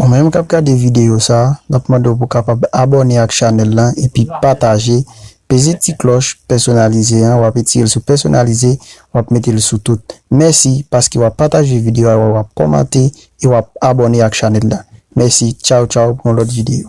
Ou menm kap gade videyo sa, nap mande w pou kapab abòne ak chanèl lan epi pataje, peze ti klòch pèsonalize an wap etire l sou pèsonalize wap mete l sou tout. Mèsi paske wap pataje videyo a wap kòmante e wap abòne ak chanèl la. Mèsi tchaw tchaw pou yon lòt videyo.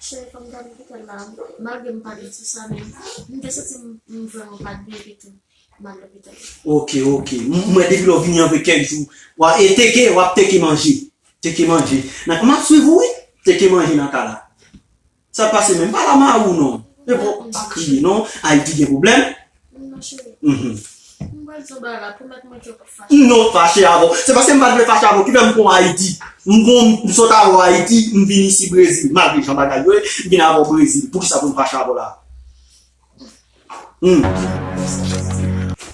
Cheri kòm dab m kite l la malgre m pale sou sa men m te santi m vrèman pat byen epitou m al lopital. Ok ok m wè depi lè w vini anpre kèk jou e teke wap teke manje teke manje nan map swiv ou wi teke manje nan ka la sa pase menm pala mari w non epa w pa kriye non Ayiti gen pwoblèm M non fache avè w. Se paske m pa t vle fache avè w ki fè m konn Ayiti. M konn, m sot avè w Ayiti, m vin isi Brezil. Malgre jan bagay yo ye, m vin avè w Brezil. Poukisa pou m fache avè w la a? Hum!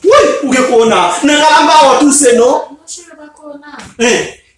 Wouyy! Ou gen kowona! Nan ka la m pa wè w touse non. Hein!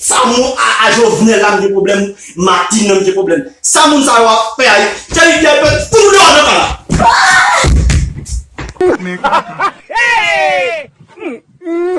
Sa moun aa jovenel la mnje problem martine nan mnje problem sa moun sa yo ap fè ayiti thierry pierre dwe fout nou deyò nan kanal.